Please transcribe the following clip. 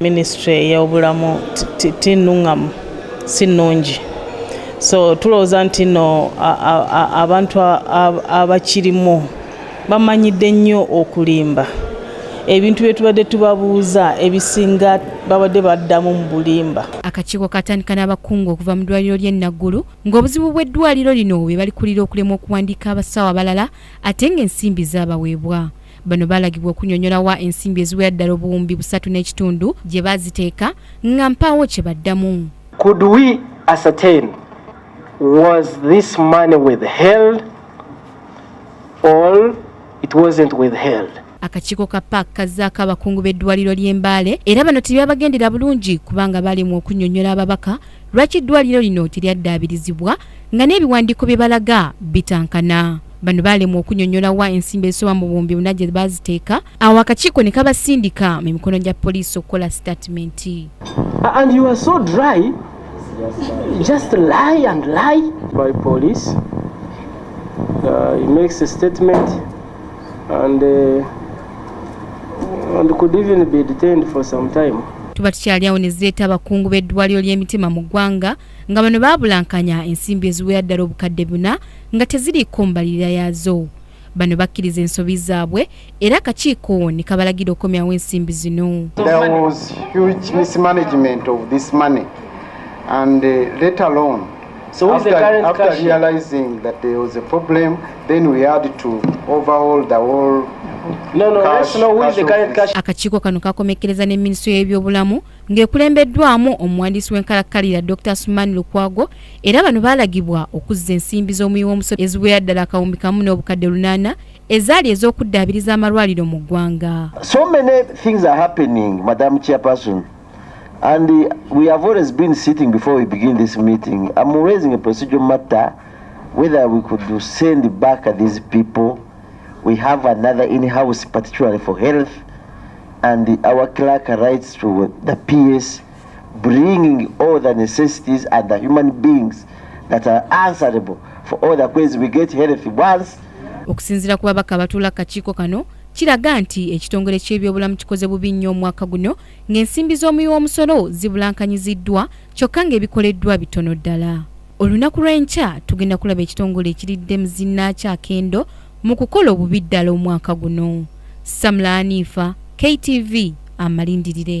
Minisitule ey'obulamu tinnuŋŋamu si nnungi so tulowooza nti no abantu abakirimu bamanyidde nnyo okulimba ebintu bye tubadde tubabuuza ebisinga babadde baddamu mu bulimba akakiiko katandika n'abakungu okuva mu ddwaliro ly'e naggulu ng'obuzibu bw'eddwaliro lino bwe balikulira okulemwa okuwandiika abasawo abalala ate ng'ensimbi zaabaweebwa bano balagibwa okunyonyola wa ensimbi eziwera ddala obuwumbi busatu n'ekitundu gye baziteeka nga mpaawo kye baddamu could we ascertain was this money withheld or it wasn't withheld akakiiko ka paak kazzaako abakungu b'eddwaliro ly'embaale era bano tebyabagendera bulungi kubanga balemwa okunyonyola ababaka lwaki eddwaliro lino teryaddabirizibwa nga n'ebiwandiiko bye balaga bitankana bano baalemwa okunyonyola wa ensimbi ezisoba mu buwumbi buna gye baaziteeka awo akakiiko ne kabasindika mu mikono gya poliisi okukola sitatimenti just lie and lie by police uh, he makes a statement and uh, and could even be detained for some time tuba tukyali awo ne zireeta abakungu b'eddwaliro ly'emitima mu ggwanga nga bano baabulankanya ensimbi eziwera ddala obukadde buna nga teziriiko mbalirira yaazo bano bakkiriza ensobi zaabwe era akakiiko ne kabalagira okukomyawo ensimbi zino and uh, let alone So who is the current after cashier? realizing that there was a problem, then we had to overhaul the whole No, no, cash, let's know who is the current cashier. Akakiiko kano kakomekereza ne ministry y'ebyobulamu ng'ekulembeddwamu omuwandiisi w'enkalakkalira dr suman lukwago era bano baalagibwa okuzza ensimbi z'omuwi w'omusolo eziwera ddala akawumbi kamu n'obukadde lunaana ezaali ez'okuddaabiriza amalwaliro mu ggwanga And uh, we have always been sitting before we begin this meeting. I'm raising a procedural matter whether we could send back these people we have another in house particularly for health and the, our clerk writes to the ps bringing all the necessities and the human beings that are answerable for all the questions we get health once okusinzira ku babaka abatuula kakiiko kano kiraga nti ekitongole ky'ebyobulamu kikoze bubi nnyo omwaka guno ng'ensimbi z'omuwi w'omusolo zibulankanyiziddwa kyokka ng'ebikoleddwa bitono ddala olunaku lw'enkya tugenda kulaba ekitongole ekiridde muzinnaakyo akendo mu kukola obubi ddala omwaka guno samula aniifa ktv amalindirire